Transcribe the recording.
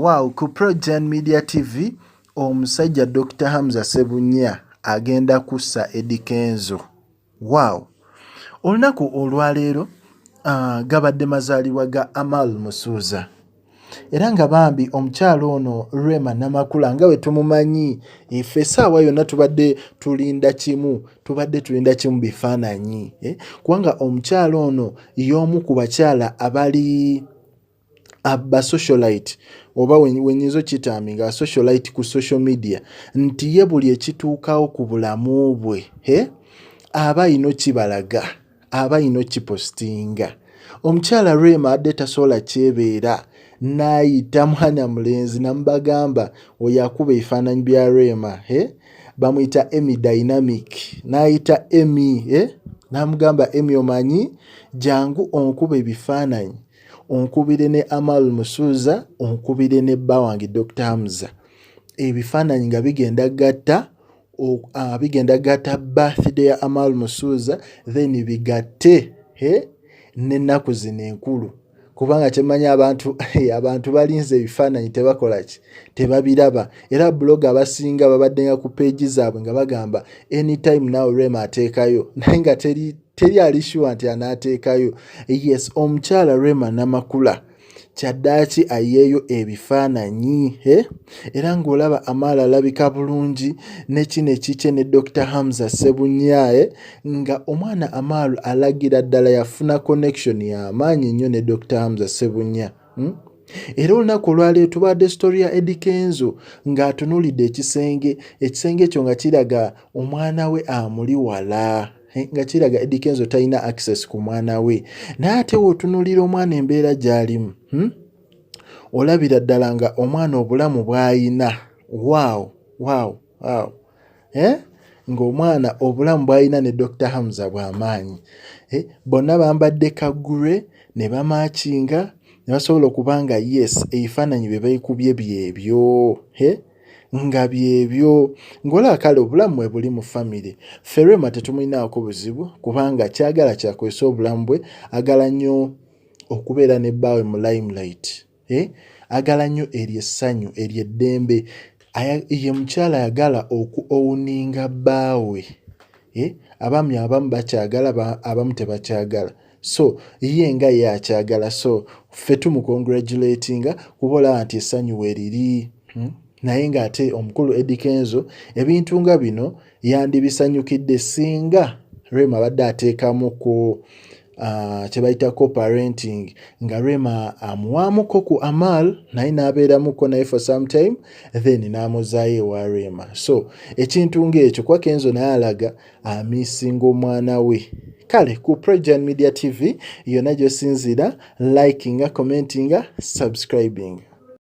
wow ku progen media tv omusajja dr hamza sebunya agenda kussa edikenzo wow olunaku olwaleero uh, gabadde mazaalibwa ga amal musuuza era nga bambi omukyalo ono rema namakula nga bwe tumumanyi efe esaawa yonna tubadde tulinda kimu tubadde tulinda kimu bifaananyi eh? kubanga omukyalo ono y'omu ku bakyala abali aba socialite oba wenyinza okitami nga socialite ku social media nti ye buli ekituukawo ku bulamu bwe he aba ayina okibalaga aba ayina okipositinga omukyala rema adde tasobola kyebeera n'ayita mwana mulenzi namubagamba oyo akuba ebifaananyi bya rema he bamuyita emi dynamic n'ayita emi eh? n'amugamba emi omanyi jangu onkuba ebifaananyi onkubire ne amal musuuza onkubire ne bba wange dr hamza ebifaananyi nga bigenda gatta uh, bigenda gatta birthday ya amal musuuza then bigatte eh? n'ennaku zino enkulu kubanga kyemmanyi abantu abantu balinze ebifaananyi tebakola ki tebabiraba era buloga abasinga babaddenga ku peegi zaabwe nga bagamba anytime now rema ateekayo naye nga teri teri ali shuwa nti anaateekayo yes omukyala rema namakula kyaddaaki ayeeyo ebifaananyi he era ng'olaba amaala alabika bulungi ne kino ekikye ne dr hamza sebunyae nga omwana Amaru alagira ddala yafuna connection ya maanyi nnyo ne Dr. Hamza Sebunya hmm? era olunaku olwaleero tubadde story ya Eddy Kenzo ng'atunuulidde ekisenge ekisenge ekyo nga kiraga omwana we amuli wala eh, nga kiraga Eddy Kenzo talina access ku mwana we naye ate wootunuulira omwana embeera gy'alimu hmm? olabira ddala nga omwana obulamu bw'ayina waawo waawo wow. eh? ng'omwana obulamu bw'alina ne dr hamza bw'amaanyi eh? bonna bambadde kagure ne bamaakinga ne basobola okuba nga yes ebifaananyi bye baikubye byebyo eh? nga byebyo ng'olaba kale obulamu bwe buli mu famire ferema tetumulinaako buzibu kubanga kyagala kyakozesa obulamu bwe agala nnyo okubeera ne bbaawe mu limelight eh? agala nnyo eryo essanyu eryo eddembe ye mukyala ayagala oku owuninga bbaawe eh? abaami abamu bakyagala abamu tebakyagala so ye nga ye akyagala so ffe tumukongratulatinga kuba olaba nti essanyu weriri hmm? naye ng'ate omukulu edikenzo ebintu nga bino yandibisanyukidde singa rema abadde ateekamuku uh, kyebayita coparenting nga rema amuwaamuko ku amal naye n'abeeramuko naye for some time then n'amuzaayo ewa rema so ekintu ng'ekyo kuba kenzo naye alaga amisinga omwana we kale ku prejan media tv yonna gyosinziira likinga commentinga subscribing